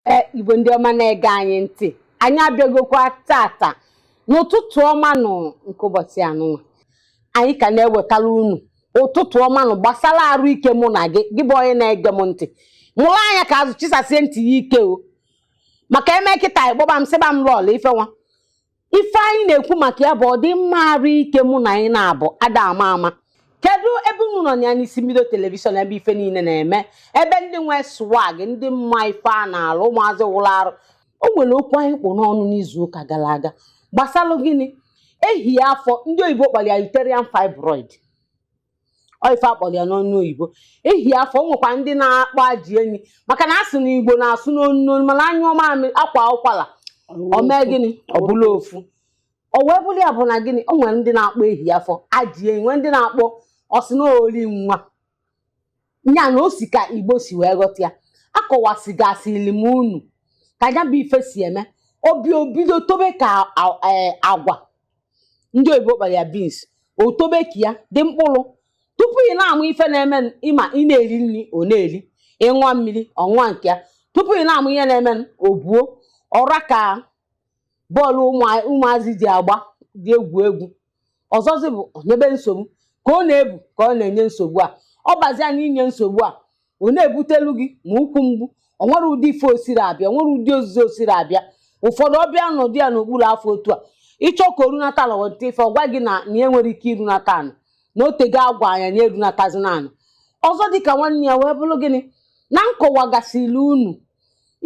ee igbo ndị ọma na-ege anyị ntị anyị abịagokwa tata n'ụtụtụ ọma nụ nke ụbọchị anụnwa anyị ka na-ewetara unu ụtụtụ ọma nụ gbasara arụ ike mụ na gị gị bụ onye na-ege m ntị mụrụ anya ka azụ chisasie ntị ya ike o maka emekata ị kpọba m sịba m lọọlọ ife nwa ife anyị na-ekwu maka ya bụ ọdịmma arụ ike mụ na anyị na-abụ ada ama ama kedu ebe unu nọ ya n'isi mbido telivishọn ebe ife niile na-eme ebe ndị nwe swag ndị ma ife a na-alụ ụmụazị wụrụ arụ o nwere okwu anyị kpụ n'ọnụ n'izu ụka gara aga gbasalụ gịnị ehi afọ ndị oyibo kpọrọ ya uterine fibroid ọ ife a kpọrọ ya n'onu oyibo ehi afọ o nwekwa ndị na-akpọ ajị enyi maka na a sị na igbo na-asụ n'onu n'onu mana a nyụọ mamịrị a kwaa ụkwara o mee gịnị ọ bụrụ ofu o wee bụrụ ya bụ na gịnị o nwere ndị na-akpọ ehi afọ ajị enyi nwee ndị na-akpọ ọ sị na ori nwa nya na o si ka igbo si wee ghọta ya akọwasịgasịrị m unu ka ya bụ ife si eme o bi o bido tobe ka a- eh, agwa ndị oyibo kpọrọ ya beans o tobe ka ya dị mkpụrụ tupu ị na-ama ife na-eme n- ị ma ị na-eri nri ọ na-eri ị ṅụọ mmiri ọ ṅụọ nke ya tupu ị na-ama ihe na-eme n- o buo ọ ra ka bọọlụ ụmụ- ụmụazị ji agba dị egwu egwu ọzọzi bụ o nyebe nsogbu ka ọ na-ebu ka ọ na-enye nsogbu a ọ bazia na inye nsogbu a ọ na-ebutelu gị ma ụkwụ mgbu o nwere ụdị ife o siri abịa o nwere ụdị ọzọzi o siri abịa ụfọdụ ọ bịa nọdụ ya n'okpuru afọ otu a ị chọọ ka o runata ala weta ife ọ gwa gị na na ya nwere ike irunata anị na o tego agwa anya na erunatazina anị ọzọ dịka nwanne ya wee bụrụ gịnị na m kọwagasịrị unu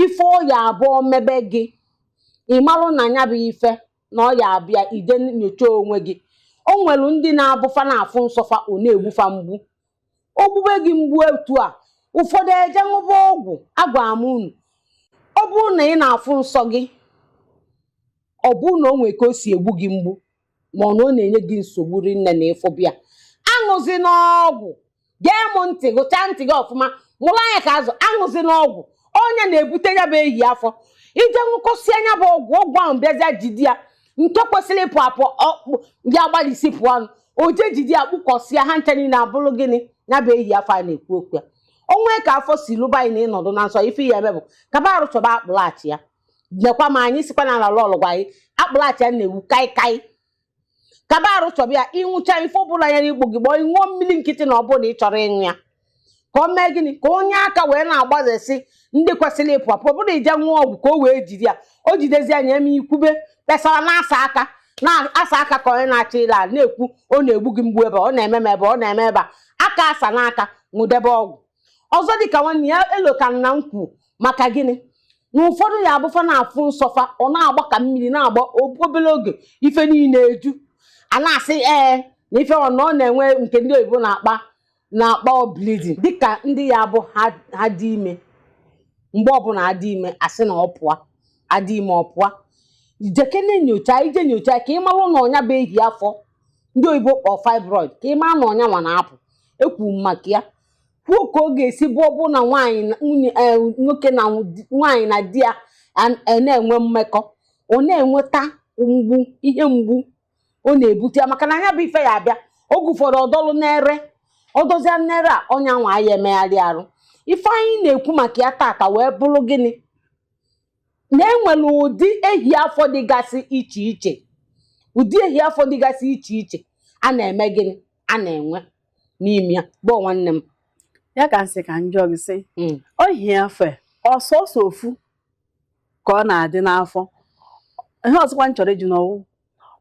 ife ọ ya-abụ o mebe gị ị malụ na ya bụ ife na ọ ya abịa i je nyochaa onwe gị o nwere ndị na-abụ fa na-afụ nsọ fa ọ na-egbu fa mgbu o gbube gị mgbu etu a ụfọdụ eje ṅụba ọgwụ agwa m unu ọ bụrụ na ị na-afụ nsọ gị ọ bụrụ na o nwere ka o si egbu gị mgbu ma ọ na ọ na-enye gị nsogbu rinne na ịfụbịa aṅụzina ọgwụ gee m ntị gechaa ntị gị ọfụma mụrụ anya ka azụ aṅụzina ọgwụ ọ nya na-ebute ya bụ ehi afọ i je ṅụkọsịa nya bụ ọgwụ ọgwụ ahụ bịazịa jide ya nke kwesịrị ịpụ apụ ọkpụ ya gbalịsi pụọ ọnụ o je jide ya kpụkọsịa ha ncha niile abụrụ gịnị ya bụ ehi afọ a na-ekwu okwu ya o nwee ka afọ si lụba anyị na ị nọdụ na nsọ ife ị ya-eme bụ kaba arụ chọba akpụlụachịa nekwa ma anyị sịkwa na ọ lọọlọ gwa anyị akpụlụachịa na-ewu kaikai kaba arụ chọba ya ị ṅụchaa ife ọbụla ya n'igbo gị gbọọ ị ṅụọ mmiri nkịtị na ọ bụrụ ị chọrọ ịṅụ ya ka o mee gịnị ka o nye aka wee na-agbazesi ndị kwesịrị ịpụ apụ ọ bụrụ i je ṅụọ ọgwụ ka o wee jide ya o jidezia nya emee i kwube kpesara na-asa aka na-asa aka ka onye na-achọ ile ala na-ekwu ọ na-egbu gị mgbu ebe ọ na-eme m ebe ọ na-eme ebe a aka asana aka ṅụdebe ọgwụ ọzọ dịka nwanne ya Eloka nna m kwu maka gịnị na ụfọdụ ya bụ fa na-afụ nsọ fa ọ na-agba ka mmiri na-agba obere oge ife niile eju a na-asị ee na ife ọ na ọ na-enwe nke ndị oyibo na-akpọ na-akpọ bleeding dịka ndị ya bụ ha ha dị ime mgbe ọbụla a dị ime a sị na ọ pụọ a dị ime ọ pụọ jekene nyocha i je nyocha ka ị marụ na ọ nya bụ ehi afọ ndị oyibo kpọọ fibroid ka ị mara na ọ nya nwa na-apụ ekwu m maka ya kwuo ka ọ ga-esi bụ ọ bụ na nwaanyị na- nwunye eh, nwoke na di- nwaanyị na di ya an- eh, na-enwe mmekọ ọ na-enweta mgbu ihe mgbu ọ na-ebute ya maka na nya bụ ife ya abịa oge ụfọdụ ọ dọlụ n'ere ọ dọzia n'ere a onye nwa ya emegharị arụ ife anyị na-ekwu maka ya tata wee bụrụ gịnị na e nwere ụdị ehi afọ dịgasị iche iche ụdị ehi afọ dịgasị iche iche a na-eme gịnị a na-enwe n'ime ya bụ nwanne m ya ka m sị ka m jụọ gị sị Mm. ehi afọ ọ sọsọ ofu ka ọ na-adị n'afọ ihe ọzọkwa m chọrọ ịjụ na ọ wụ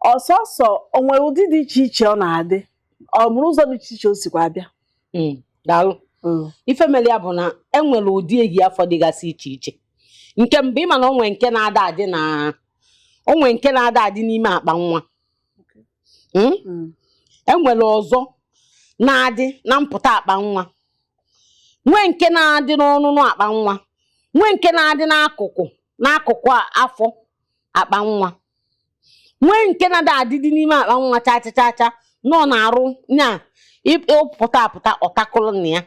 ọ sọsọ o nwere ụdị dị iche iche ọ na-adị o nwere ụzọ dị iche iche o sikwa abịa Mm, daalụ ife mere ya bụ na e nwere ụdị ehi afọ dịgasị iche iche nke mbụ ị ma na o nwe nke na-ada adị na o nwe nke na-ada adị n'ime akpa nwa Mm? Mm. e nwere ọzọ na-adị na mpụta akpa nwa nwee nke na-adị n'ọnụnụ akpa nwa nwee nke na-adị n'akụkụ n'akụkụ a- afọ akpa nwa nwee nke na-ada adịdị n'ime akpa nwa cha cha cha cha nọ n'arụ nya pụta apụta ọ takụlụ nya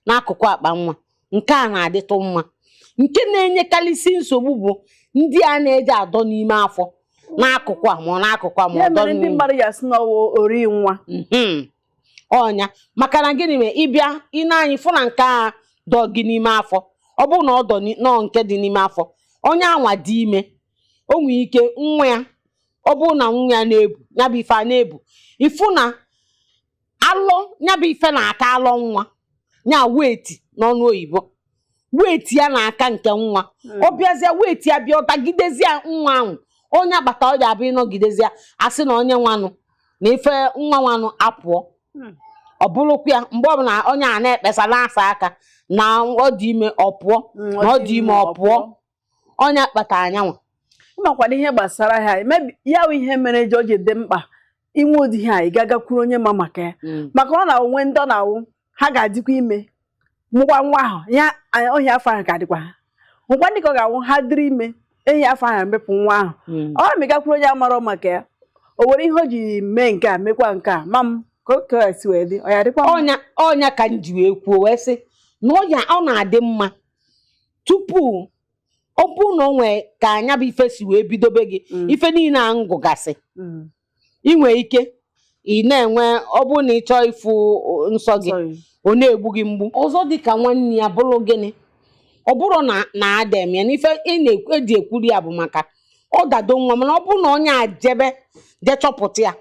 n'akụkụ akpa nwa nke a na-adịtụ mma nke na-enyekarịsị nsogbu bụ ndị a na-eje adọ n'ime afọ n'akụkụ a ma ọ n'akụkụ a ma ya ọdọ mere ndị n'ime mmadụ ya sị na ọ wụ ori nwa Mhm. ọ nya maka na gịnị mere ị bịa i nee anya ị fụ na nke a dọ gị n'ime afọ ọ bụrụ na ọ dọ ni- nọọ nke dị n'ime afọ onye anwa dị ime o nwere ike nwa ya ọ bụrụ na nwa ya na-ebu ya bụ ife a na-ebu ị fụ na alọ ya bụ ife na-aka alọ nwa ya weight n'ọnụ oyibo weight ya na-aka nke nwa hmm. ọ bịazie weight ya bịa ọ tagidezie nwa ahụ onye agbata ọ ya-abụ ị nọgidezie a sị na onye nwanụ na ife nwa nwanụ apụọ hmm. ọ bụrụkwa ya mgbe ọbụla onye a na-ekpesa na-asa aka na ọ dị ime ọ pụọ hmm, na ọ dị ime ọ pụọ ọ nya kpata onye anwa amakwana ihe gbasara ha emebi ya bụ ihe mere ji o ji dị mkpa inwe ụdị ihe a ị gagakwuru onye ma maka ya maka ọ na-awụ nwee ndị ọ na-awụ ha ga-adịkwa ime mụkwa nwa ahụ ya a- ehi afọ ahụ ga-adịkwa ha nwekwa ndị ka ọ ga-awụ ha dịrị ime ehi afọ ahụ emepụ nwa ahụ ọ na-agakwuru onye amarọ maka ya o were ihe o ji mee nke a mekwa nke a ma m ka o ka si wee dị ọ ya dịkwa mma? ọ nya ọ nya ka m ji wee kwuo wee sị na ọ na-adị mma tupu ọ bụrụ na o nwee ka nya bụ ife si wee bidobe gị mm. ife niile a ngụgasị mm. ị nwee ike ị na-enwe ọ bụrụ na ị chọọ ịfụ nsọ gị ọ na-egbu gị mgbu ọzọ dị ka nwanyị a bụrụ gịnị ọ bụrụ na na ada eme ya na ife e ji ekwuri ya bụ maka ọ dado nwa mana ọ bụrụ na onye a jebe jechọpụta ya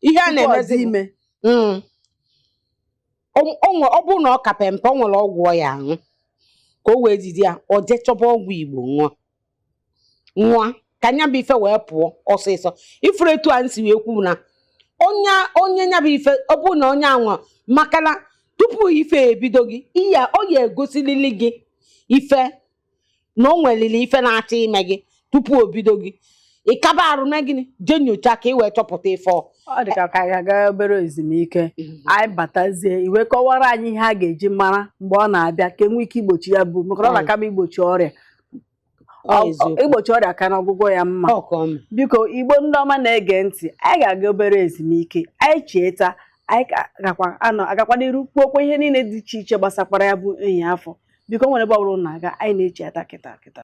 ihe a na-emezi ime mm. ọ bụrụ na ọ ka pempe ọ nwere ọgwụ ọ ya-aṅụ ka o wee jide ya ọ jee chọba ọgwụ igbo ṅụọ ṅụọ ka nya bụ ife wee pụọ ọsịsọ ị fụrụ etu a m si wee kwuru na onye onye nya bụ ife ọ bụrụ na onye anwa maka na tupu ife ebido gị ihe ọ ya-egosilili gị ife na o nwelili ife na-achọ ime gị tupu o bido gị ịkaba arụ mee gịnị jee nyocha ka ị wee chọpụta ife ọ ọ dị ka ka anyị gaa obere ezumike anyị batazie ị wee kọwaara anyị ihe a ga-eji mara mgbe ọ na-abịa ka e nwee ike igbochi ya bụ maka na ọ Mm. na-akaba igbochi ọrịa Ọ Ọ- eziokwu. igbochi ọrịa ka na ọgwụgwọ ya mma Ọ ka ọ mee. biko igbo ndị ọma na-ege ntị anyị ga-aga obere ezumike anyị chighata anyị ka gakwa anọ gakwa n'iru kwuokwa ihe niile dị iche iche gbasakwara ya bụ enyi afọ biko enwene ebe ọ bụla ị na-aga anyị na-echighata kịta kịta